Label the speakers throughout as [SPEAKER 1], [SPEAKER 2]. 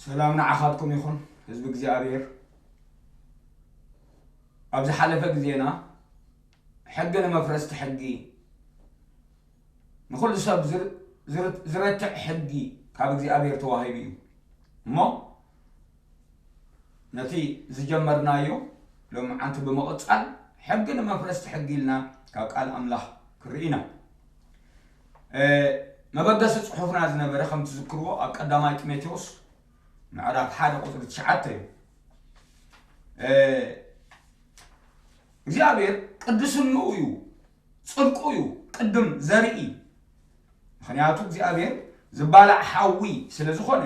[SPEAKER 1] ሰላም ንዓኻትኩም ይኹን ህዝቢ እግዚኣብሔር ኣብ ዝሓለፈ ግዜና ሕጊ ንመፍረስቲ ሕጊ ንኹሉ ሰብ ዚረትዕ ሕጊ ካብ እግዚኣብሔር ተዋሂቡ እዩ እሞ ነቲ ዝጀመርናዮ ሎምዓንቲ ብምቕጻል ሕጊ ንመፍረስቲ ሕጊ ኢልና ካብ ቃል ኣምላኽ ክንርኢ ኢና መበገሲ ጽሑፍና ዝነበረ ከም ትዝክርዎ ኣብ ቀዳማይ ጢሞቴዎስ ምዕራፍ ሓደ ቁፅሪ ትሽዓተ እዩ እግዚኣብሔር ቅዱስንኡ እዩ ጽድቁ እዩ ቅድም ዘርኢ ምክንያቱ እግዚኣብሔር ዝባላዕ ሓዊ ስለ ዝኾነ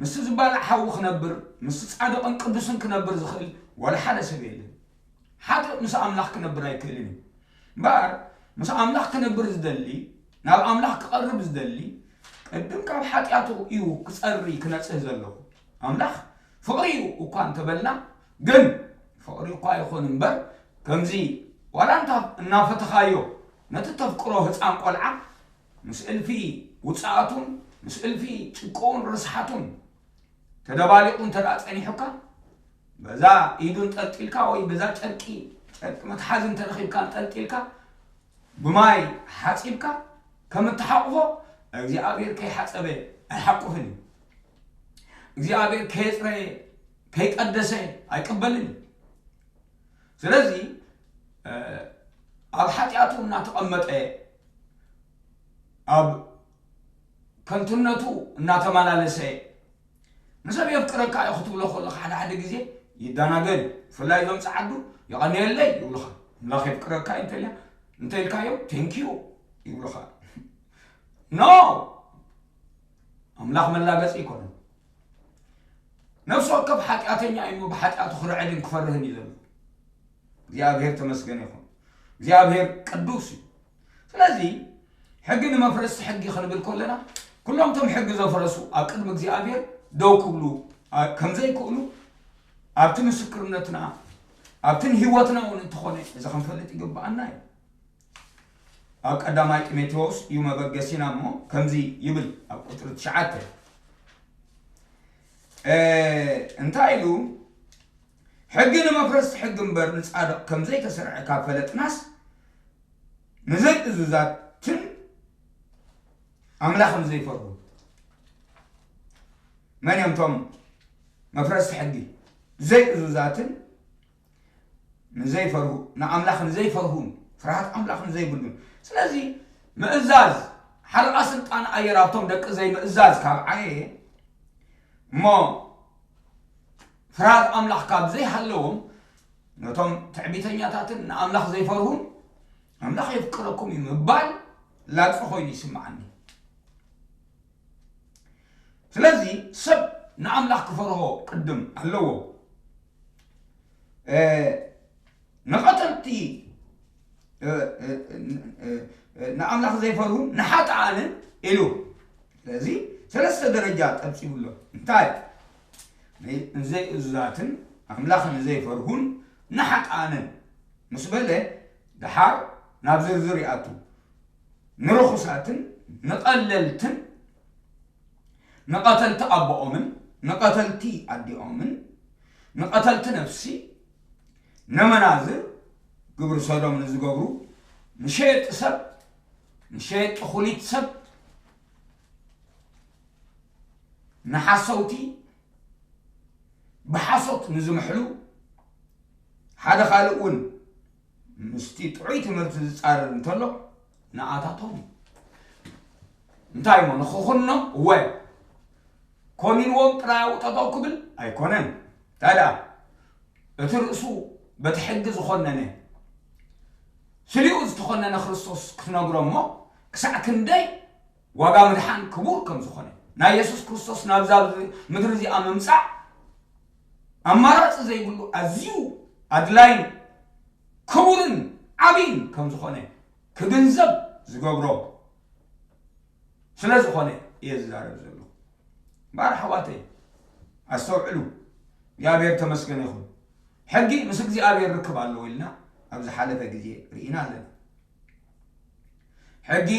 [SPEAKER 1] ምስ ዝባላዕ ሓዊ ክነብር ምስ ጻድቕን ቅዱስን ክነብር ዝኽእል ወላ ሓደ ሰብ የለን ሓጥእ ምስ ኣምላኽ ክነብር ኣይክእልን እዩ እምበኣር ምስ ኣምላኽ ክነብር ዝደሊ ናብ ኣምላኽ ክቐርብ ዝደሊ ቅድም ካብ ሓጢኣቱ እዩ ክጸሪ ክነጽህ ዘለዎ ኣምላኽ ፍቕሪ እዩ እኳ እንተበልና ግን ፍቕሪ እኳ ይኹን እምበር ከምዚ ዋላ እንተ እናፈተኻዮ ነቲ እተፍቅሮ ህጻን ቆልዓ ምስ እልፊ ውጽኣቱን ምስ እልፊ ጭቅኡን ርስሓቱን ተደባሊቑ እንተደኣ ጸኒሑካ በዛ ኢዱ እንጠልጢልካ ወይ በዛ ጨርቂ ጨርቂ መትሓዚ እንተረኺብካ እንጠልጢልካ ብማይ ሓጺብካ ከም እትሓቑፎ እግዚኣብሔር ከይሓጸበ ኣይሓቁፍን እዩ። እግዚኣብሔር ከየፅረየ ከይቀደሰ ኣይቅበልን እዩ ስለዚ ኣብ ሓጢኣቱ እናተቐመጠ ኣብ ከንቱነቱ እናተመላለሰ ንሰብ የፍቅረካ እዩ ክትብሎ ከለካ ሓደ ሓደ ግዜ ይደናገር እዩ ብፍላይ እዞም ፀዓዱ የቐንየለይ ይብሉኻ ኣምላኽ የፍቅረካ እዩ እንተልያ እንተኢልካዮም ቴንኪዩ ይብሉኻ ኖ ኣምላኽ መላገጺ ኣይኮነን። ነፍሲ ወከፍ ሓጢኣተኛ እዩ ብሓጢኣቱ ክርዕድን ክፈርህን እዩ ዘሎ። እግዚኣብሔር ተመስገን ይኹን። እግዚኣብሔር ቅዱስ እዩ። ስለዚ ሕጊ ንመፍረስቲ ሕጊ ክንብል ከለና ኩሎም እቶም ሕጊ ዘፍረሱ ኣብ ቅድሚ እግዚኣብሔር ደው ክብሉ ከም ዘይክእሉ ኣብቲ ምስክርነትና ኣብትን ህይወትና እውን እንተኾነ እዚ ክንፈልጥ ይግብኣና እዩ። ኣብ ቀዳማይ ጢሞቴዎስ እዩ መበገሲና እሞ ከምዚ ይብል ኣብ ቁፅሪ ትሽዓተ እንታይ ኢሉ ሕጊ ንመፍረስቲ ሕጊ እምበር ንፃድቕ ከምዘይተሰርዐ ካብ ፈለጥናስ ንዘይእዙዛትን ኣምላኽን ዘይፈርሁ መን እዮም እቶም መፍረስቲ ሕጊ ዘይእዙዛትን ንዘይፈርሁ ንኣምላኽ ንዘይፈርሁን ፍርሃት ኣምላኽ ንዘይብሉን ስለዚ ምእዛዝ ሓለቓ ስልጣን ኣየር ኣብቶም ደቂ ዘይምእዛዝ ካብ ዓየ እሞ ፍርሃት ኣምላኽ ካብ ዘይሃለዎም ነቶም ትዕቢተኛታትን ንኣምላኽ ዘይፈርሁን ኣምላኽ የፍቅረኩም እዩ ምባል ላግፂ ኮይኑ ይስምዓኒ ስለዚ ሰብ ንኣምላኽ ክፈርሆ ቅድም ኣለዎ ንቐተልቲ ንኣምላኽ ዘይፈርሁ ንሓጥኣንን ኢሉ ስለዚ ሰለስተ ደረጃ ጠብፂቡ ኣሎ እንታይ ንዘይእዙዛትን ኣምላኽ ንዘይፈርሁን ንሓጥኣንን ምስ በለ ድሓር ናብ ዝርዝር ይኣቱ ንርኹሳትን ንቐለልትን ንቐተልቲ ኣቦኦምን ንቐተልቲ ኣዲኦምን ንቐተልቲ ነፍሲ ነመናዝር ግብሪ ሰዶም ንዝገብሩ ንሸየጢ ሰብ ንሸየጢ ኩሊት ሰብ ንሓሰውቲ ብሓሶት ንዝምሕሉ ሓደ ካልእ እውን ምስቲ ጥዑይ ትምህርቲ ዝጻረር እንተሎ ንኣታቶም እዩ እንታይ እሞ ንኽኹኖም እወ ኮኒንዎም ጥራይ ኣብኡ ጠጠው ክብል ኣይኮነን እንታይ ደኣ እቲ ርእሱ በቲ ሕጊ ዝኾነነ ስሊኡ ዝተኾነነ ክርስቶስ ክትነግሮ እሞ ክሳዕ ክንደይ ዋጋ ምድሓን ክቡር ከም ዝኾነ፣ ናይ የሱስ ክርስቶስ ናብዛ ምድሪ እዚኣ ምምጻእ ኣማራጺ ዘይብሉ ኣዝዩ ኣድላይን ክቡርን ዓብይን ከም ዝኾነ ክግንዘብ ዝገብሮ ስለ ዝኾነ እየ ዝዛረብ ዘለኹ። እምበኣር ኣሕዋተይ ኣስተውዕሉ፣ እግዚኣብሔር ተመስገን ይኹን። ሕጊ ምስ እግዚኣብሔር ርክብ ኣለዎ ኢልና ኣብ ዝሓለፈ ግዜ ርኢና ኣለና። ሕጊ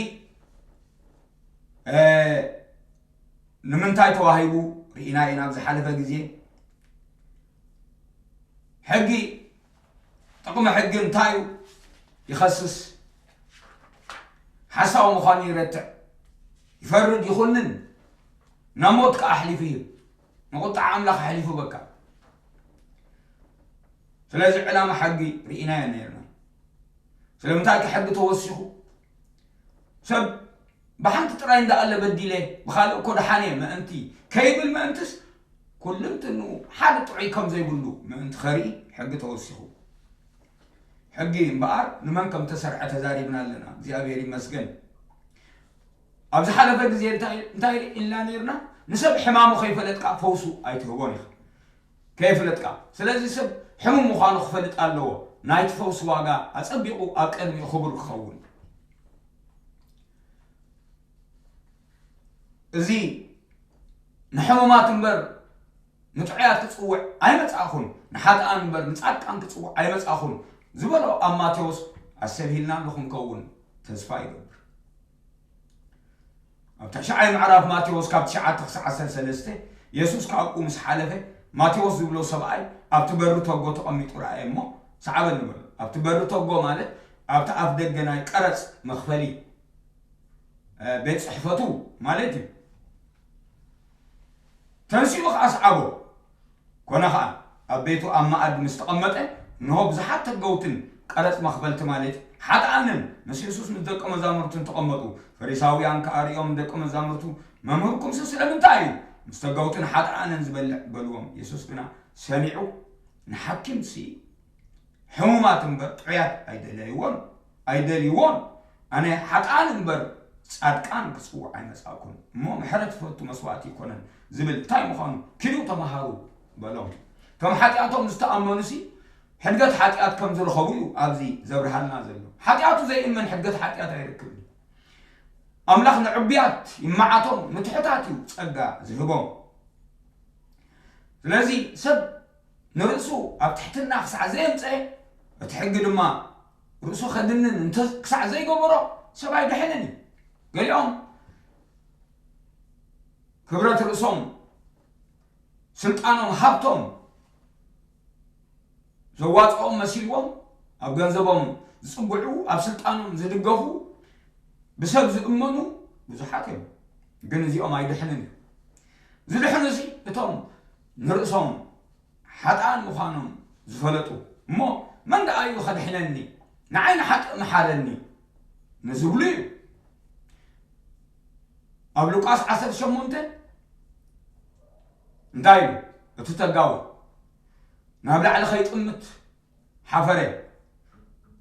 [SPEAKER 1] ንምንታይ ተዋሂቡ ርኢና ኢና ኣብ ዝሓለፈ ግዜ ሕጊ ጥቕሚ ሕጊ እንታይ እዩ ይኸስስ ሓሳዊ ምዃኑ ይረትዕ ይፈርድ ይኹንን ናብ ሞት ከዓ ኣሕሊፉ ይህብ ንቁጥዓ ኣምላኽ ኣሕሊፉ በካ ስለዚ ዕላማ ሕጊ ርኢናዮ ነርና ስለምንታይ ከ ሕጊ ተወሲኹ ሰብ ብሓንቲ ጥራይ እንዳኣለ በዲለ ብካልእ እኮ ደሓነ ምእንቲ ከይብል ምእንትስ ኩልንትኑ ሓደ ጥዑይ ከም ዘይብሉ ምእንቲ ከርኢ ሕጊ ተወሲኹ ሕጊ እምበኣር ንመን ከም ተሰርዐ ተዛሪብና ኣለና እግዚኣብሔር ይመስገን ኣብ ዝሓለፈ ግዜ እንታይ ኢልና ነርና ንሰብ ሕማሙ ከይፈለጥካ ፈውሱ ኣይትህቦን ኢኻ ከየፍለጥካ ስለዚ ሰብ ሕሙም ምዃኑ ክፈልጥ ኣለዎ ናይቲ ፈውሲ ዋጋ ኣጸቢቑ ኣብ ቅድሚኡ ክቡር ክኸውን እዚ ንሕሙማት እምበር ንጥዑያት ክጽውዕ ኣይመጻእኹን ንሓጥኣን እምበር ንጻድቃን ክጽውዕ ኣይመጻእኹን ዝበሎ ኣብ ማቴዎስ ኣሰብሂልና ኣለኹም ከውን ተስፋ ይገብር ኣብ ታሽዓይ ምዕራፍ ማቴዎስ ካብ ትሽዓተ ክሳዕ ዓሰርተ ሰለስተ የሱስ ካብኡ ምስ ሓለፈ ማቴዎስ ዝብሎ ሰብኣይ ኣብቲ በሪ ቶጎ ተቐሚጡ ረኣየ እሞ ሰዓበኒ በሎ። ኣብቲ በሪ ቶጎ ማለት ኣብቲ ኣፍ ደገ ናይ ቀረጽ መኽፈሊ ቤት ጽሕፈቱ ማለት እዩ። ተንሲኡ ኸኣ ሰዓቦ። ኰነ ኸኣ፣ ኣብ ቤቱ ኣብ መኣዲ ምስ ተቐመጠ፣ እንሆ፣ ብዙሓት ተገውትን ቀረጽ መኽፈልቲ ማለት ሓጥኣንን ምስ የሱስ ምስ ደቀ መዛሙርቱን ተቐመጡ። ፈሪሳውያን ከኣ ርእዮም ንደቀ መዛሙርቱ፣ መምህርኩምሲ ስለምንታይ እዩ ምስ ተገውትን ሓጥኣንን ዚበልዕ? በልዎም። የሱስ ግና ሰሚዑ፣ ንሓኪምሲ፣ ሕሙማት እምበር ጥዑያት ኣይደለይዎን ኣይደልይዎን ኣነ ሓጥኣን እምበር ጻድቃን ክጽውዕ ኣይመጻእኩን እሞ ምሕረት ዝፈቱ መስዋእቲ ኣይኮነን ዝብል እንታይ ምዃኑ ኪዱ ተመሃሩ በሎም ከም ሓጢኣቶም ዝተኣመኑሲ ሕድገት ሓጢኣት ከም ዝረኸቡ እዩ ኣብዚ ዘብርሃልና ዘሎ ሓጢኣቱ ዘይእመን ሕድገት ሓጢኣት ኣይረክብን ኣምላኽ ንዕቡያት ይመዓቶም ንትሑታት እዩ ጸጋ ዝህቦም ስለዚ ሰብ ንርእሱ ኣብ ትሕትና ክሳዕ ዘየምጸኤ፣ እቲ ሕጊ ድማ ርእሱ ከድንን እንተ ክሳዕ ዘይገበሮ፣ ሰብ ኣይድሕንን እዩ። ገሊኦም ክብረት ርእሶም፣ ስልጣኖም፣ ሃብቶም ዘዋጽኦም መሲልዎም ኣብ ገንዘቦም ዝጽግዑ፣ ኣብ ስልጣኖም ዝድገፉ፣ ብሰብ ዝእመኑ ብዙሓት እዮም። ግን እዚኦም ኣይድሕንን እዩ። ዝድሕኑሲ እቶም ንርእሶም ሓጥኣን ምዃኖም ዝፈለጡ እሞ መን ደኣ እዩ ከድሕነኒ ንዓይ ንሓጥእ ምሓረኒ ንዝብሉ እዩ ኣብ ሉቃስ ዓሰርተ ሸሞንተ እንታይ እዩ እቲ ተጋዊ ናብ ላዕሊ ከይጥምት ሓፈረ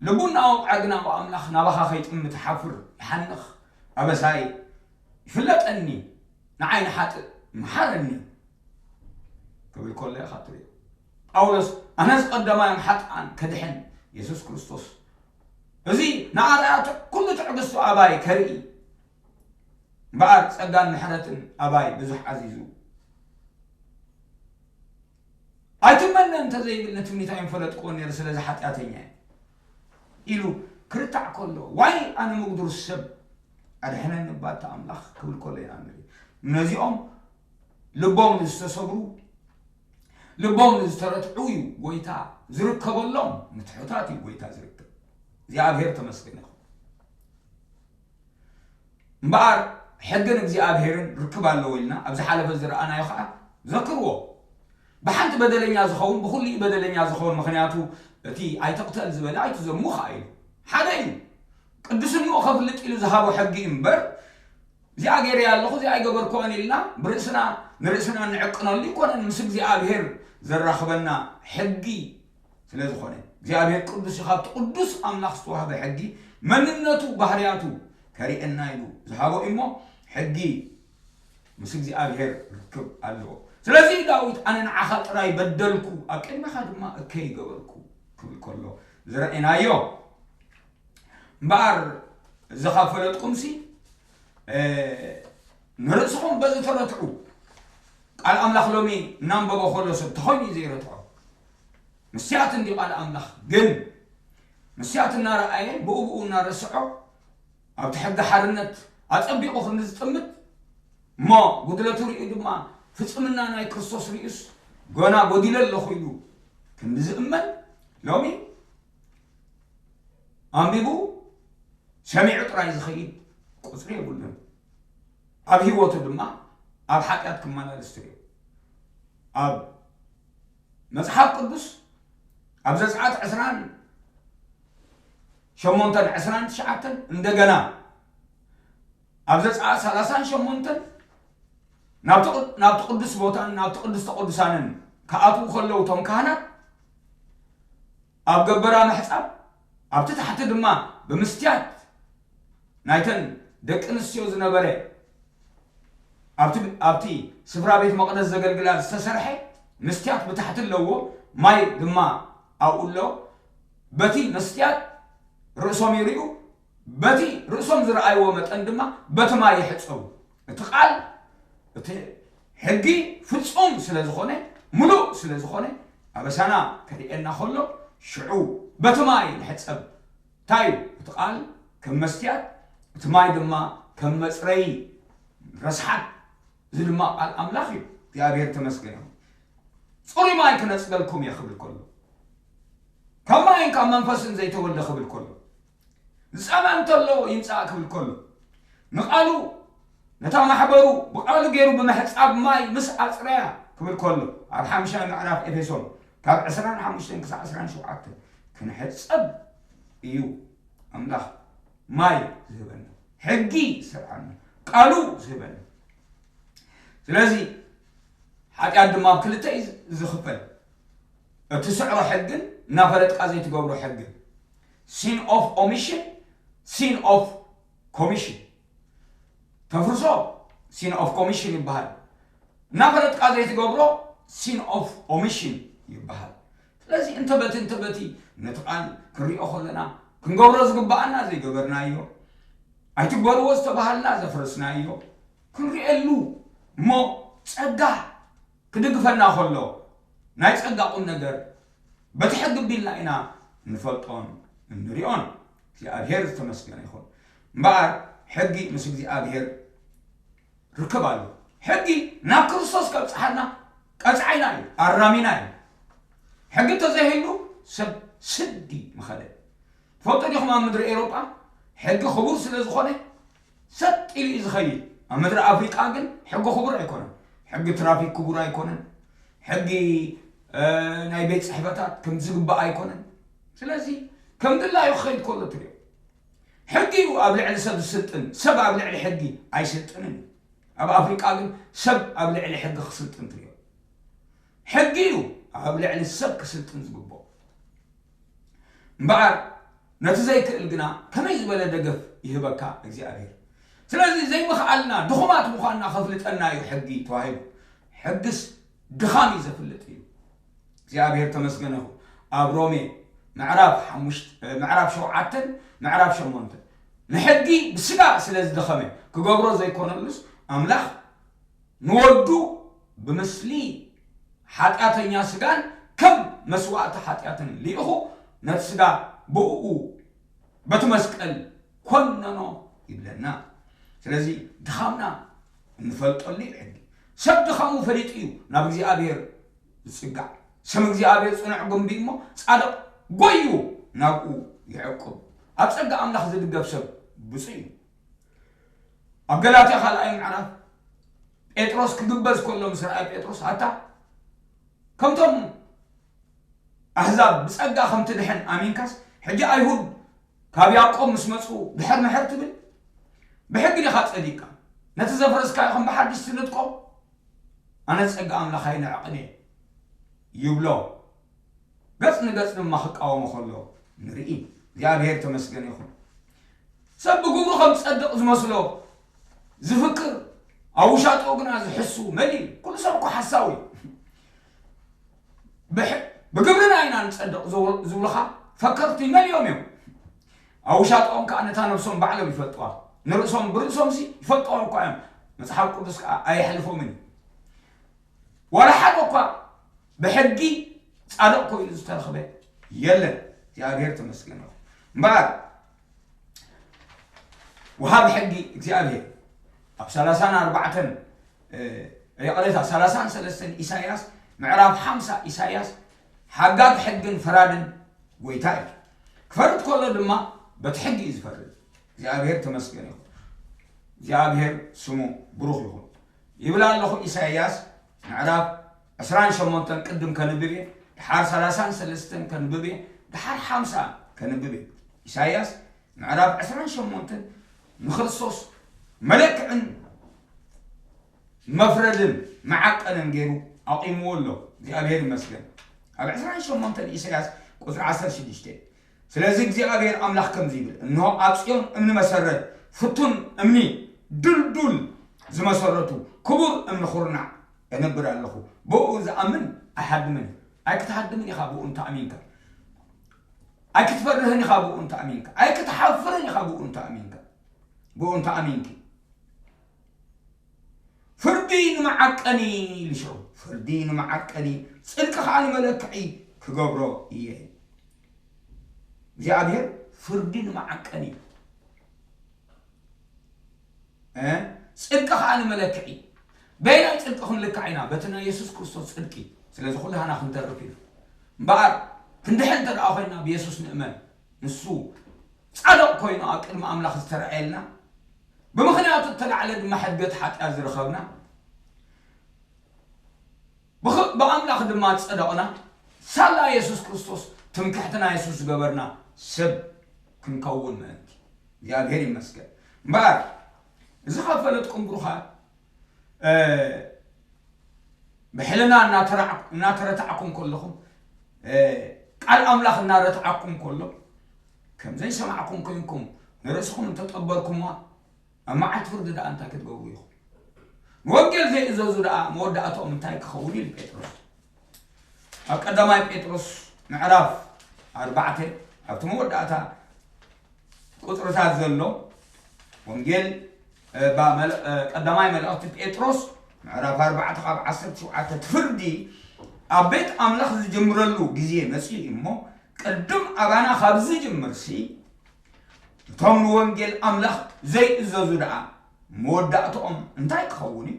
[SPEAKER 1] ልቡና ኦም ዓግናኦ ኣምላኽ ናባኻ ከይጥምት ሓፍር ይሓንኽ ኣበሳይ ይፍለጠኒ ንዓይ ንሓጥእ ምሓረኒ ክብል ከሎ ኢኻ ትሪኦ ጳውሎስ ኣነስ ቀዳማዮም ሓጥኣን ከድሕን የሱስ ክርስቶስ እዚ ንኣርኣያ ኩሉ ትዕግስቱ ኣባይ ከርኢ እምበኣር ጸጋን ምሕረትን ኣባይ ብዙሕ ዓዚዙ ኣይትመነ እንተ ዘይብል ንትምኒት ኣይምፈለጥክዎን ነይረ ስለዚ ሓጢኣተኛ እየ ኢሉ ክርታዕ ከሎ ዋይ ኣነ ምጉድር ሰብ ኣድሕነኒ እባ እቲ ኣምላኽ ክብል ከሎ ኢና ንርኢ ነዚኦም ልቦም ንዝተሰብሩ ልቦም ንዝተረትዑ እዩ ጎይታ ዝርከበሎም ንትሑታት እዩ ጎይታ ዝርከብ እግዚኣብሔር ተመስገን ይኹን እምበኣር ሕግን እግዚኣብሄርን ርክብ ኣለዎ ኢልና ኣብ ዝሓለፈ ዝረኣናዮ ከኣ ዘክርዎ። ብሓንቲ በደለኛ ዝኸውን ብኹሉ እዩ በደለኛ ዝኸውን ምኽንያቱ እቲ ኣይትቕተል ዝበለ ኣይትዘሙ ከኣ ኢሉ ሓደ እዩ። ቅድስንኡ ከፍልጥ ኢሉ ዝሃቦ ሕጊ እዩ እምበር እዚኣ ገይረያ ኣለኹ እዚኣ ኣይገበርክዋን ኢልና ብርእስና ንርእስና እንዕቅነሉ ኣይኮነን ምስ እግዚኣብሄር ዘራኽበና ሕጊ ስለ ዝኾነ እግዚኣብሔር ቅዱስ እዩ ካብቲ ቅዱስ ኣምላኽ ዝተዋህበ ሕጊ መንነቱ ባህርያቱ ከርእየና ኢሉ ዝሃቦ እሞ ሕጊ ምስ እግዚኣብሔር ርክብ ኣለዎ ስለዚ ዳዊት ኣነ ንዓኻ ጥራይ በደልኩ ኣብ ቅድሚኻ ድማ እከይ ገበርኩ ክብል ከሎ ዝረእናዮ እምበኣር እዚ ካብ ፈለጥኩምሲ ንርእስኹም በዚ ተረትዑ ቃል ኣምላኽ ሎሚ እናንበቦ ከሎ ሰብ ተኾይኑ እዩ ዘይረትዖ መስትያት እንድዩ ቃል ኣምላኽ ግን መስትያት እናረኣየ ብኡብኡ እናረስዖ ኣብቲ ሕጊ ሓርነት ኣጸቢቑ ክንዲ ዝጥምት እሞ ጉድለቱ ርእዩ ድማ ፍጽምና ናይ ክርስቶስ ርእዩስ ጎና ጎዲለ ኣለኹ ኢሉ ክንዲ ዝእመን ሎሚ ኣንቢቡ ሰሚዑ ጥራይ ዝኸይድ ቁጽሪ የብሉን ኣብ ህይወቱ ድማ ኣብ ሓጢኣት ክመላለስ ትርእዮ ኣብ መጽሓፍ ቅዱስ ኣብ ዘጽኣት ዕስራን ሸሞንተን ዕስራን ትሽዓተን እንደገና ኣብ ዘጽኣት ሰላሳን ሸሞንተን ናብቲ ቅዱስ ቦታን ናብቲ ቅዱስ ተቅዱሳንን ክኣትዉ ከለዉ እቶም ካህናት ኣብ ገበራ ምሕጻብ ኣብቲ ታሕቲ ድማ ብምስትያት ናይተን ደቂ ኣንስትዮ ዝነበረ ኣብቲ ኣብቲ ስፍራ ቤት መቕደስ ዘገልግላ ዝተሰርሐ መስትያት ብታሕቲ ኣለዎ፣ ማይ ድማ ኣብኡ ኣሎ፣ በቲ መስትያት ርእሶም ይርእዩ፣ በቲ ርእሶም ዝረኣይዎ መጠን ድማ በቲ ማይ ይሕጸቡ። እቲ ቃል እቲ ሕጊ ፍጹም ስለ ዝኾነ ምሉእ ስለ ዝኾነ ኣበሳና ከርእየና ከሎ ሽዑ በቲ ማይ ንሕጸብ። እንታይ እዩ እቲ ቃል ከም መስትያት እቲ ማይ ድማ ከም መጽረይ ረስሓት እዚ ድማ ቃል ኣምላኽ እዩ እግዚኣብሔር ተመስገን ይኹን ጽሩይ ማይ ክነጽበልኩም እየ ክብል ከሎ ካብ ማይን ካብ መንፈስን ዘይተወልደ ክብል ከሎ ዝጸምኣ እንተሎ ይምጻእ ክብል ከሎ፣ ንቓሉ፣ ነታ ማሕበሩ ብቓሉ ገይሩ ብምሕጻብ ማይ ምስ ኣጽረያ ክብል ከሎ፣ ኣብ ሓምሻይ ምዕራፍ ኤፌሶን ካብ ዕስራን ሓሙሽተን ክሳዕ ዕስራን ሸውዓተን ክንሕጸብ እዩ ኣምላኽ ማይ ዝህበና፣ ሕጊ ዝሰርዓልና፣ ቃሉ ዝህበና። ስለዚ ሓጢኣት ድማ ኣብ ክልተ እዩ ዝኽፈል፣ እቲ ስዕሮ ሕግን እናፈለጥካ ዘይትገብሮ ሕግን። ሲን ኦፍ ኦሚሽን ሲን ኦፍ ኮሚሽን ተፍርሶ ሲን ኦፍ ኮሚሽን ይበሃል እናፈለጥካ ዘይትገብሮ ሲን ኦፍ ኦሚሽን ይበሃል ስለዚ እንተ በቲ እንተ በቲ ነቲ ቃል ክንሪኦ ከለና ክንገብሮ ዝግባኣና ዘይገበርናዮ ኣይትግበርዎ ዝተባሃልና ዘፍረስናዮ ክንሪኤሉ እሞ ጸጋ ክድግፈና ከሎ ናይ ጸጋ ቁም ነገር በቲ ሕጊ ቢልና ኢና እንፈልጦን እንሪኦን እግዚኣብሔር ዝተመስገነ ይኹን እምበኣር ሕጊ ምስ እግዚኣብሔር ርክብ ኣለዎ ሕጊ ናብ ክርስቶስ ከብፅሓና ቀፅዓይና እዩ ኣራሚና እዩ ሕጊ ተዘይህሉ ሰብ ስዲ ምኸደ ትፈልጡ ዲኹም ኣብ ምድሪ ኤሮጳ ሕጊ ክቡር ስለ ዝኾነ ሰጥ ኢሉ እዩ ዝኸይድ ኣብ ምድሪ ኣፍሪቃ ግን ሕጊ ክቡር ኣይኮነን ሕጊ ትራፊክ ክቡር ኣይኮነን ሕጊ ናይ ቤት ጽሕፈታት ከም ዝግባእ ኣይኮነን ስለዚ ከም ድላዩ ክኸይድ ከሎ ትሪኦ ሕጊ እዩ ኣብ ልዕሊ ሰብ ዝስልጥን ሰብ ኣብ ልዕሊ ሕጊ ኣይስልጥንን እዩ ኣብ ኣፍሪቃ ግን ሰብ ኣብ ልዕሊ ሕጊ ክስልጥን ትሪኦ ሕጊ እዩ ኣብ ልዕሊ ሰብ ክስልጥን ዝግብኦ እምበኣር ነቲ ዘይክእል ግና ከመይ ዝበለ ደገፍ ይህበካ እግዚኣብሔር። ስለዚ ዘይምኽኣልና ድኹማት ምዃንና ከፍልጠና እዩ ሕጊ ተዋሂቡ። ሕግስ ድኻም እዩ ዘፍልጥ እዩ። እግዚኣብሔር ተመስገነ ይኹን ኣብ ሮሜ ምዕራፍ ሓሙሽተ ምዕራፍ ሸውዓተን ምዕራፍ ሸሞንተን ንሕጊ ብስጋ ስለ ዝደኸመ ክገብሮ ዘይኮነሉስ ኣምላኽ ንወዱ ብምስሊ ሓጢኣተኛ ስጋን ከም መስዋእቲ ሓጢኣትን ልኢኹ ነቲ ስጋ ብእኡ በቲ መስቀል ኰነኖ ይብለና። ስለዚ ድኻምና እንፈልጠሉ እዩ ሕጊ። ሰብ ድኻሙ ፈሊጡ እዩ ናብ እግዚኣብሔር ዝጽጋዕ። ስም እግዚኣብሔር ጽኑዕ ግምቢ እዩ እሞ ጻድቕ ጐይዩ ናብኡ ይዕቍብ። ኣብ ጸጋ ኣምላኽ ዝድገፍ ሰብ ብፁዕ እዩ። ኣብ ገላትያ ካልኣይ ምዕራፍ ጴጥሮስ ክግበዝ ከሎ ምስ ረኣየ ጴጥሮስ ኣታ ከምቶም ኣህዛብ ብጸጋ ከም ትድሕን ኣሚንካስ ሕጂ ኣይሁድ ካብ ያዕቆብ ምስ መጹ ድሕር ምሕር ትብል ብሕጊ ዲኻ ጸዲቅካ ነቲ ዘፍረስካ ይኹም ብሓድሽ ትንጥቆ ኣነ ጸጋ ኣምላኽ ኣይንዕቕን እየ ይብሎ ገጽ ንገጽ ድማ ክቃወሞ ከሎ ንርኢ። እግዚኣብሄር እተመስገነ ይኹን። ሰብ ብግብሩ ከም ዝጸድቕ ዝመስሎ ዝፍክር ኣብ ውሻጥኡ ግና ዝሕሱ መን እዩ? ኩሉ ሰብ እኮ ሓሳዊ እዩ። ብሕ- ብግብርና ኢና ንጸድቕ ዝብ- ዝብሉኻ ፈከርቲ መን እዮም እዮም? ኣብ ውሻጥኦም ከዓ ነታ ነብሶም ባዕሎም ይፈልጥዋ። ንርእሶም ብርእሶምሲ ይፈልጥዋ እኳ እዮም። መጽሓፍ ቅዱስ ከዓ ኣየሕልፎምን እዩ። ዋላ ሓደ እኳ ብሕጊ ጻድቕ ኮይኑ ዝተረኽበ የለን። እግዚኣብሔር ተመስገን ይኹን። እምበኣር ወሃቢ ሕጊ እግዚኣብሔር ኣብ ሰላሳን ኣርባዕተን እ፣ ይቕሬታ ሰላሳን ሰለስተን ኢሳይያስ ምዕራፍ ሓምሳ ኢሳይያስ ሓጋግ ሕግን ፈራድን ጎይታ እዩ ክፈርድ ከሎ ድማ በቲ ሕጊ እዩ ዝፈርድ እግዚኣብሔር ተመስገን ይኹን እግዚኣብሔር ስሙ ብሩኽ ይኹን ይብል ኣለኹ ኢሳይያስ ምዕራፍ ዕስራን ሸሞንተን ቅድም ከንብብ እየ ድሓር ሰላሳን ሰለስተን ከንብብ እየ ድሓር ሓምሳ ከንብብ እየ ኢሳይያስ ምዕራፍ ዕስራን ሸሞንተን ንክርስቶስ መለክዕን መፍረድን መዓቀንን ገይሩ ኣቑምዎ ኣሎ እግዚኣብሔር ይመስገን ኣብ ዕስራን ሸሞንተን ኢሳይያስ ቁፅሪ ዓሰርተ ሽዱሽተ ስለዚ እግዚኣብሄር ኣምላኽ ከምዚ ይብል፣ እንሆ፣ ኣብ ጽዮን እምኒ መሰረት፣ ፍቱን እምኒ፣ ድልዱል ዝመሰረቱ ክቡር እምኒ ዅርናዕ እነብር ኣለኹ፣ ብእኡ ዝኣምን ኣይሃድምን እዩ። ኣይክትሃድምን ኢኻ ብእኡ እንተ ኣሚንካ፣ ኣይክትፈርህን ኢኻ ብእኡ እንተ ኣሚንካ፣ ኣይክትሓፍርን ኢኻ ብእኡ እንተ ኣሚንካ፣ ብእኡ እንተ ኣሚንኪ። ፍርዲ ንመዓቀኒ ልሾ ፍርዲ ንመዓቀኒ ጽድቂ ኸኣ ንመለክዒ ክገብሮ እየ እዩ እግዚኣብሔር ፍርዲ ንመዓቀኒ ጽድቂ ኸኣ ንመለክዒ በይናይ ጽድቂ ክንልካዕ ኢና በቲ ናይ የሱስ ክርስቶስ ጽድቂ ስለዚ ኩላህና ክንተርፍ ኢና እምበኣር ክንድሕን እንተ ደኣ ኮይንና ብየሱስ ንእመን ንሱ ጻድቕ ኰይኑ ኣብ ቅድሚ ኣምላኽ ዝተራእየልና፣ ብምኽንያቱ እተላዕለ ድማ ሕድገት ሓጢኣት ዝረኸብና፣ ብኽ ብኣምላኽ ድማ ዝጸደቕና፣ ሳላ የሱስ ክርስቶስ ትምክሕትና የሱስ ዝገበርና ሰብ ክንከውን ምእንቲ። እግዚኣብሄር ይመስገን። እምበኣር እዚ ኻብ ፈለጥኩም ብሩኻት። ብሕልና እናተረታዕኩም ከለኹም ቃል ኣምላኽ እናረትዓኩም ከሎ ከምዘይ ሰማዕኩም ኮንኩም ንርእስኹም እንተጠበርኩማ ኣብ መዓልቲ ፍርዲ ደኣ እንታይ ክትገብሩ ኢኹም ንወንጌል ዘይእዘዙ ደኣ መወዳእትኦም እንታይ ክኸውን ኢሉ ጴጥሮስ ኣብ ቀዳማይ ጴጥሮስ ምዕራፍ ኣርባዕተ ኣብቲ መወዳእታ ቁጽርታት ዘሎ ወንጌል ቀዳማይ መልእኽቲ ጴጥሮስ ምዕራፍ ኣርባዕተ ካብ ዓሰርተ ሸውዓተ እቲ ፍርዲ ኣብ ቤት ኣምላኽ ዝጅምረሉ ግዜ መፅኡ እዩ እሞ ቅድም ኣባና ካብ ዝጅምርሲ እቶም ንወንጌል ኣምላኽ ዘይእዘዙ ደኣ መወዳእትኦም እንታይ ክኸውን እዩ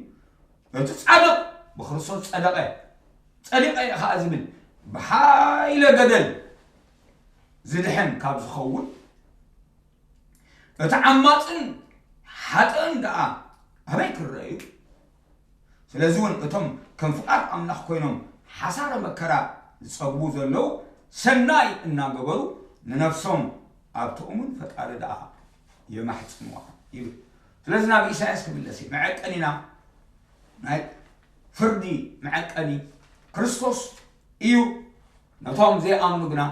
[SPEAKER 1] እቲ ጻድቕ ብክርስቶስ ጸደቐ ጸዲቐ እየ ከዓ ዝብል ብሓይለ ገደል ዝድሕን ካብ ዝኸውን እቲ ዓማፅን ሓጥእን ደኣ ኣበይ ክረአ እዩ? ስለዚ እውን እቶም ከም ፍቓድ ኣምላኽ ኮይኖም ሓሳረ መከራ ዝፀግቡ ዘለዉ ሰናይ እናገበሩ ንነፍሶም ኣብ ትእሙን ፈጣሪ ደኣ የማሕፅንዋ ይብል። ስለዚ ናብ ኢሳያስ ክምለስ እዩ መዐቀኒና ናይ ፍርዲ መዐቀኒ ክርስቶስ እዩ። ነቶም ዘይኣምኑ ግና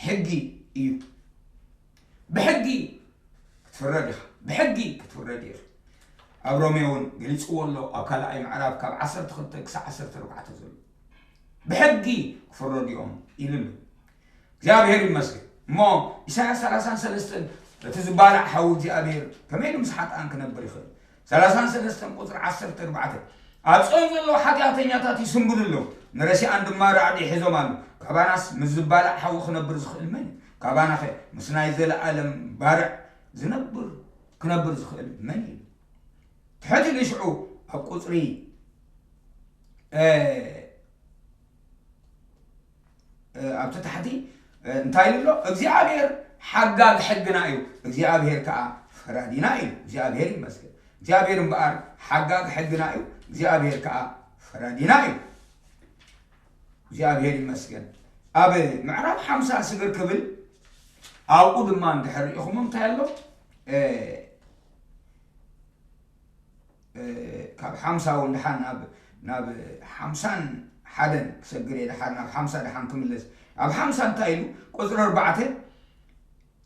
[SPEAKER 1] ሕጊ እዩ። ብሕጊ ክትፍረድ ኢኻ፣ ብሕጊ ክትፍረድ ኢኻ። ኣብ ሮሜ እውን ገሊጽዎ ኣሎ፣ ኣብ ካልኣይ ምዕራፍ ካብ ዓሰርተ ክልተ ክሳዕ ዓሰርተ ኣርባዕተ ዘሎ ብሕጊ ክፍረዱ እዮም ኢሉ ኣሎ። እግዚኣብሔር ይመስገን እሞ ኢሳያስ ሰላሳን ሰለስተን እቲ ዝባላዕ ሓዊ እግዚኣብሔር ከመይ ኢሉ ምስ ሓጥኣን ክነብር ይኽእል? ሰላሳን ሰለስተን ቁጽሪ ዓሰርተ ኣርባዕተ ኣብ ጽዮን ዘለዉ ሓጢኣተኛታት ይስንብዱ ኣለዉ፣ ንረሲኣን ድማ ራዕዲ ሒዞም ኣለዉ። ካባናስ ምስ ዝባላዕ ሓዊ ክነብር ዝኽእል መን እዩ? ካባናኸ ምስ ናይ ዘለኣለም ባርዕ ዝነብር ክነብር ዝኽእል መን እዩ? ትሕት ኢሉ ሽዑ ኣብ ቁጽሪ ኣብቲ ታሕቲ እንታይ ይብሎ እግዚኣብሔር ሓጋግ ሕግና እዩ እግዚኣብሔር ከዓ ፈራዲና እዩ እግዚኣብሔር ይመስገን እግዚኣብሔር እምበኣር ሓጋግ ሕግና እዩ እግዚኣብሔር ከዓ ፈራዲና እዩ እግዚኣብሔር ይመስገን ኣብ ምዕራፍ ሓምሳ ስግር ክብል ኣብኡ ድማ እንድሕር ሪኢኹም እንታይ ኣሎ ካብ ሓምሳ ውን ድሓን ናብ ናብ ሓምሳን ሓደን ክሰግር እየ ድሓር ናብ ሓምሳ ድሓን ክምለስ ኣብ ሓምሳ እንታይ ኢሉ ቁፅሪ ኣርባዕተ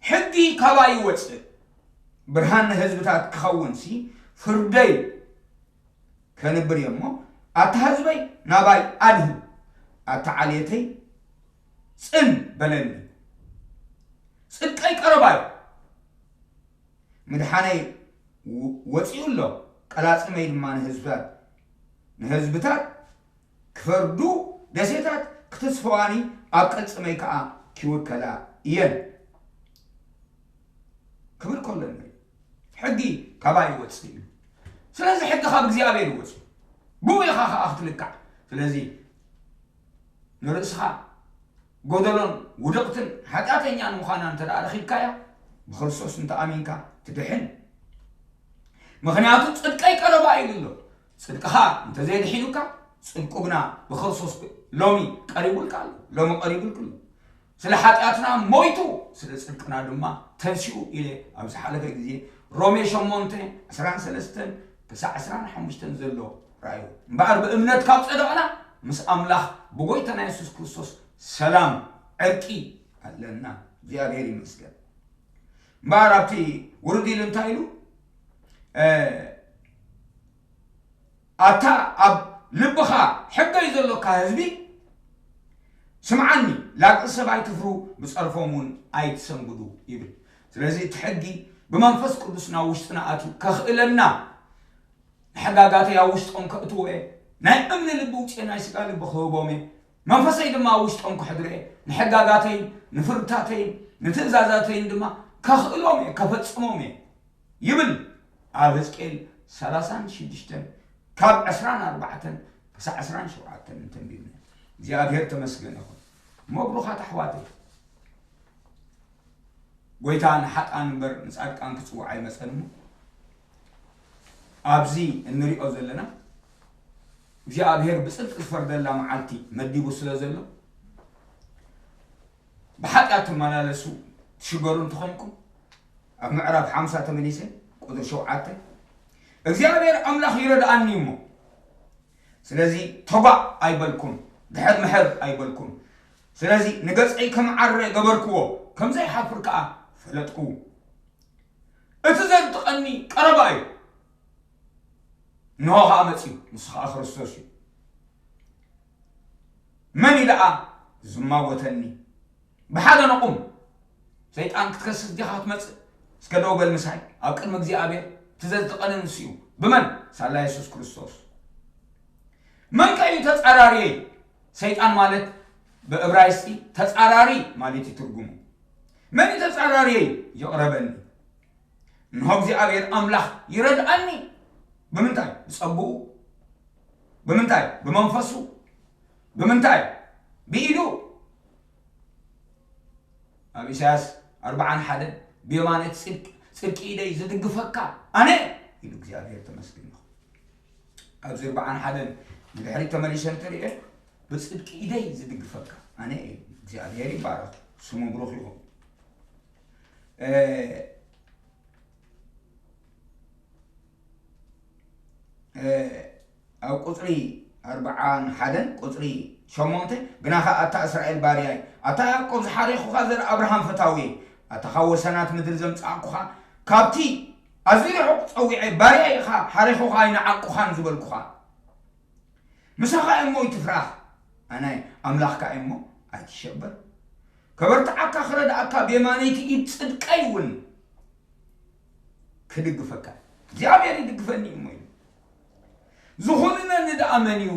[SPEAKER 1] ሕጊ ካባይ ይወፅእ ብርሃን ንህዝብታት ክኸውን ሲ ፍርደይ ከንብር እየ እሞ ኣታ ህዝበይ ናባይ ኣድህ ኣታ ዓልየተይ ፅን በለኒ ፅድቀይ ቀረባዩ ምድሓነይ ወጺኡ ኣሎ ቀላጽመይ ድማ ንህዝብታት ንህዝብታት ክፈርዱ ደሴታት ክትስፈዋኒ ኣብ ቅልጽመይ ከኣ ኪውከላ እየን ክብል ከሎ ንርኢ ሕጊ ካባይ ይወጽእ እዩ ስለዚ ሕጊ ካብ እግዚኣብሔር ይወጽእ ብኡ ኢኻ ከኣ ክትልካዕ ስለዚ ንርእስኻ ጎደሎን ውድቕትን ሓጢኣተኛን ምዃና እንተ ደኣ ረኺብካያ፣ ብክርስቶስ እንተ ኣሚንካ ትድሕን። ምኽንያቱ ጽድቀይ ቀረባ ኢሉ ኣሎ። ጽድቅኻ እንተ ዘየድሒኑካ፣ ጽድቁ ግና ብክርስቶስ ሎሚ ቀሪቡልካ ኣሎ፣ ሎሚ ቀሪቡልክ ኣሎ። ስለ ሓጢኣትና ሞይቱ ስለ ጽድቅና ድማ ተንሲኡ ኢለ ኣብ ዝሓለፈ ግዜ ሮሜ ሸሞንተ ዕስራን ሰለስተን ክሳዕ ዕስራን ሓሙሽተን ዘሎ ርኣዩ። እምበኣር ብእምነት ካብ ጸደቕና ምስ ኣምላኽ ብጎይታና የሱስ ክርስቶስ ሰላም፣ ዕርቂ፣ ኣለና። እግዚኣብሔር ይመስገን። እምበኣር ኣብቲ ውርድ ኢሉ እንታይ ኢሉ ኣታ ኣብ ልብኻ ሕገይ ዘሎካ ህዝቢ ስምዓኒ ላግዒ ሰብ ኣይትፍሩ ብጸርፎም እውን ኣይትሰንግዱ ይብል ስለዚ እቲ ሕጊ ብመንፈስ ቅዱስ ናብ ውሽጥና ኣትዩ ከኽእለና ንሕጋጋተይ ኣብ ውሽጦም ከእትዎ እየ ናይ እምኒ ልቢ ውፅእ ናይ ስጋ ልቢ ክህቦም እየ መንፈሰይ ድማ ኣብ ውሽጦም ክሕድሮ እየ ንሕጋጋተይን ንፍርድታተይን ንትእዛዛተይን ድማ ከኽእሎም እየ ከፈፅሞም እየ ይብል ኣብ ህዝቅኤል 36 ካብ 24 ክሳዕ 27 እንተንቢብና እግዚኣብሔር ተመስገን ይኹን መብሩኻት ኣሕዋተይ ጎይታ ንሓጥኣን እምበር ንጻድቃን ክጽውዕ ኣይመጸን እሞ ኣብዚ እንሪኦ ዘለና እግዚኣብሔር ብጽድቂ ዝፈርደላ መዓልቲ መዲቡ ስለ ዘሎ ብሓጢኣት ትመላለሱ ትሽገሩ እንተኾይንኩም ኣብ ምዕራፍ ሓምሳ ተመሊሰ ቁድሪ ሸውዓተ እግዚኣብሔር ኣምላኽ ይረድኣኒ እሞ ስለዚ ተጓዕ ኣይበልኩም ድሕር ምሕር ኣይበልኩም ስለዚ ንገጸይ ከምዓረ ገበርክዎ ከምዘይሓፍር ከኣ ፈለጥኩ እቲ ዘንጥቀኒ ቀረባ እዩ እንሆ ከኣ መጽዩ ንሱ ከኣ ክርስቶስ እዩ መን እዩ ደኣ ዝማጎተኒ ብሓደ ንቑም፣ ሰይጣን ክትከስስ ዲኻ ክትመጽእ? እስከ ደው በል ምሳይ፣ ኣብ ቅድሚ እግዚኣብሔር እቲ ዘዝትቐንን ንሱ እዩ። ብመን? ሳላ የሱስ ክርስቶስ። መን ከ እዩ ተጻራሪየይ? ሰይጣን ማለት ብእብራይስጢ ተጻራሪ ማለት እዩ ትርጉሙ። መን እዩ ተጻራሪየይ? ይቕረበኒ እንሆ እግዚኣብሔር ኣምላኽ ይረድኣኒ። ብምንታይ? ብጸግኡ። ብምንታይ? ብመንፈሱ። ብምንታይ ብኢዱ ኣብ ኢሳያስ ኣርብዓን ሓደን ብየማነ ጽድቂ ጽድቂ ኢደይ ዝድግፈካ ኣነ ኢሉ እግዚኣብሔር ተመስግን ኣብዚ ኣርብዓን ሓደን ንድሕሪት ተመሊሰ እንተሪኤ ብጽድቂ ኢደይ ዝድግፈካ ኣነ እዩ እግዚኣብሔር ይባረኽ ስሙ ብሩኽ ይኹን ኣብ ቁፅሪ ኣርብዓን ሓደን ቁፅሪ ሸሞንተ ግና ኸዓ ኣታ እስራኤል ባርያይ ኣታ ያዕቆብ ዝሓሬኹኻ ዘር ኣብርሃም ፈታዊ ኣታ ካብ ወሰናት ምድሪ ዘምፃእኩኻ ካብቲ ኣዝዩ ርሑቕ ፀዊዐ ባርያይ ኢኻ ሓሬኹኻ ኣይንዓቁኻን ዝበልኩኻ ምሳኻ እሞ ይትፍራህ ኣነ ኣምላኽካ እሞ ኣይትሸበር ከበርትዓካ ክረድኣካ ብየማነይቲ ኢድ ፅድቀይ እውን ክድግፈካ እግዚኣብሔር ይድግፈኒ እዩ እሞ ኢሉ ዝኹንነኒ ደኣ መን እዩ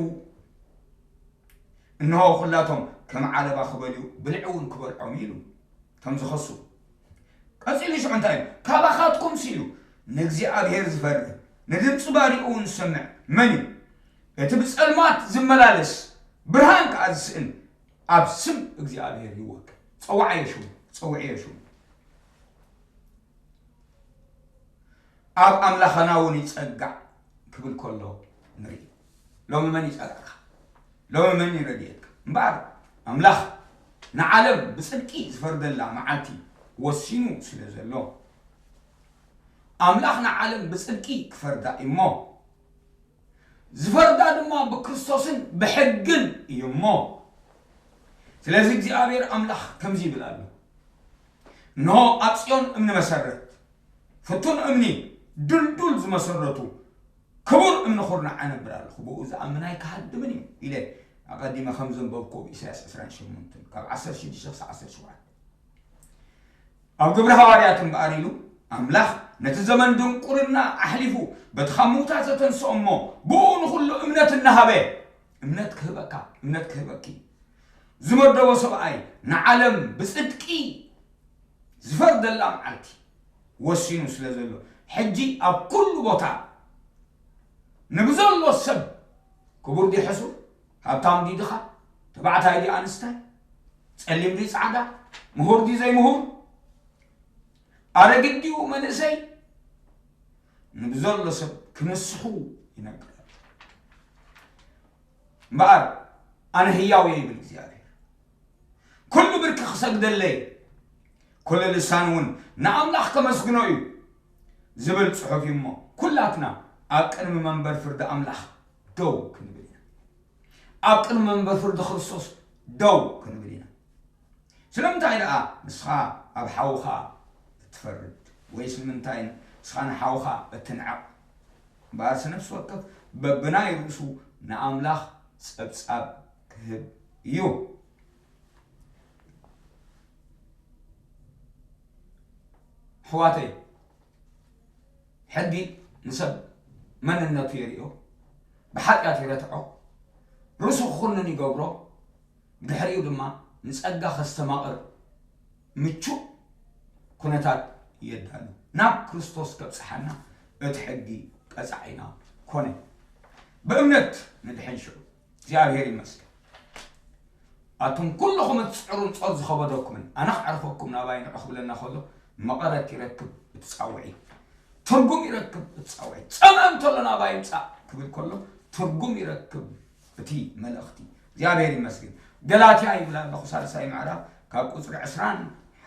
[SPEAKER 1] እንሆ ኩላቶም ከም ዓለባ ክበልዩ ብልዒ እውን ክበልዖም ኢሉ ከም ዝኸሱ ቀፂሉ ሽዑ እንታይ እዩ ካባኻትኩም ሲሉ ንእግዚኣብሔር ዝፈርህ ንድምፂ ባሪኡ እውን ዝሰምዕ መን እዩ እቲ ብፀልማት ዝመላለስ ብርሃን ከዓ ዝስእን ኣብ ስም እግዚኣብሔር ይወክል ፀዋዕዮ ሽሙ ፀውዕዮ ሽሙ ኣብ ኣምላኸና እውን ይጸጋዕ ክብል ከሎ ንርኢ ሎሚ መን ይጸጋዕካ ሎሚ መን ይረድየካ እምበኣር ኣምላኽ ንዓለም ብጽድቂ ዝፈርደላ መዓልቲ ወሲኑ ስለ ዘሎ ኣምላኽ ንዓለም ብጽድቂ ክፈርዳ እሞ ዝፈርዳ ድማ ብክርስቶስን ብሕግን እዩ እሞ፣ ስለዚ እግዚኣብሄር ኣምላኽ ከምዚ ይብል ኣሎ፣ እንሆ፣ ኣብ ጽዮን እምኒ መሰረት፣ ፍቱን እምኒ፣ ድልዱል ዝመሰረቱ ክቡር እምኒ ኹርናዕ ኣነብር ኣለኹ፣ ብኡ ዝኣምን ኣይክሃድምን እዩ ኢለ ኣቐዲመ ከም ዘንበብኩ ኢሳያስ ዕስራን ሸሞንተን ካብ ዓሰርተ ሽዱሽተ ክሳዕ ዓሰርተ ሸውዓተ ኣብ ግብሪ ሃዋርያት እምበኣር ኢሉ ኣምላኽ ነቲ ዘመን ድንቁርና ኣሕሊፉ በቲ ካብ ምዉታት ዘተንስኦ እሞ ብእኡ ንኹሉ እምነት እናሃበ እምነት ክህበካ እምነት ክህበኪ ዝመደቦ ሰብኣይ ንዓለም ብጽድቂ ዝፈርደላ መዓልቲ ወሲኑ ስለ ዘሎ ሕጂ ኣብ ኩሉ ቦታ ንብዘሎ ሰብ ክቡር ዲ ሕሱር ሃብታም ዲ ድኻ ተባዕታይ ዲ ኣንስታይ ጸሊም ድዩ ጻዕዳ፣ ምሁር ድዩ ዘይምሁር፣ ኣረጊት ድዩ መንእሰይ ንብዘሎ ሰብ ክምስሑ ይነግር እምበኣር ኣነ ህያው እየ ይብል እግዚኣብሔር ኩሉ ብርኪ ክሰግደለይ ኩሉ ልሳን እውን ንኣምላኽ ከመስግኖ እዩ ዝብል ጽሑፍ እዩ እሞ ኩላትና ኣብ ቅድሚ መንበር ፍርዲ ኣምላኽ ደው ክንብል ኢና ኣብ ቅድሚ መንበር ፍርዲ ክርስቶስ ደው ክንብል ኢና። ስለምንታይ ደኣ ንስኻ ኣብ ሓውኻ እትፈርድ? ወይስ ንምንታይ ንስኻ ንሓውኻ እትንዕቕ? እምበኣርሲ ነፍሲ ወከፍ በብናይ ርእሱ ንኣምላኽ ጸብጻብ ክህብ እዩ። ኣሕዋተይ፣ ሕጊ ንሰብ መንነቱ የርእዮ፣ ብሓጢኣት ይረትዖ፣ ርእሱ ክኹንን ይገብሮ፣ ብድሕሪኡ ድማ ንጸጋ ከስተማቕር ምቹእ ኩነታት የዳሉ። ናብ ክርስቶስ ከብጽሓና እቲ ሕጊ ቀጻዒና ኮነ። ብእምነት ንድሕን ሽዑ። እግዚኣብሔር ይመስገን ኣቱም ኩልኹም እትፅዕሩን ፆር ዝኸበደኩምን ኣነ ክዕርፈኩም ናባይ ንዑ ክብለና ከሎ መቐረት ይረክብ እቲ ፃውዒት ትርጉም ይረክብ እቲ ፃውዒት ፀመ እንተሎ ናባይ ምፃእ ክብል ከሎ ትርጉም ይረክብ እቲ መልእኽቲ እግዚኣብሔር ይመስገን ገላትያ ይብል ኣለኹ ሳልሳይ ምዕራፍ ካብ ቁፅሪ ዕስራን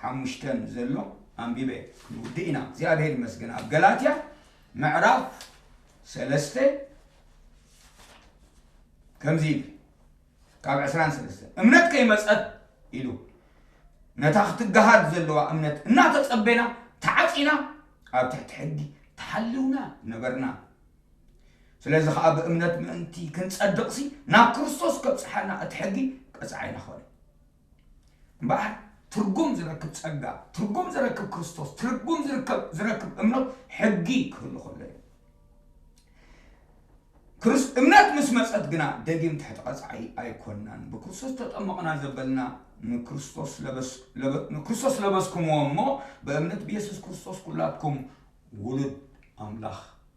[SPEAKER 1] ሓሙሽተን ዘሎ ኣንቢበ ክንውድእ ኢና እግዚኣብሔር ይመስገን ኣብ ገላትያ ምዕራፍ ሰለስተ ከምዚ ይብል ካብ ዕስራን ሰለስተን እምነት ከይመፀት ኢሉ ነታ ክትገሃድ ዘለዋ እምነት እናተፀበና ተዓፂና ኣብ ትሕቲ ሕጊ ተሓልውና ነበርና ስለዚ ከዓ ብእምነት ምእንቲ ክንፀድቕሲ ናብ ክርስቶስ ከብፅሓና እቲ ሕጊ ቀፅዓይና ኾነ እምበኣር ትርጉም ዝረክብ ጸጋ፣ ትርጉም ዝረክብ ክርስቶስ፣ ትርጉም ዝርከብ ዝረክብ እምኖት ሕጊ ክህሉ ከሎ እዩ። ክርስ እምነት ምስ መጸት ግና ደጊም ትሕቲ ቀጽዓይ ኣይኮናን። ብክርስቶስ ተጠመቕና ዘበልና ንክርስቶስ ለበስ- ለበ- ንክርስቶስ ለበስኩምዎ እሞ ብእምነት ብየሱስ ክርስቶስ ኩላትኩም ውሉድ ኣምላኽ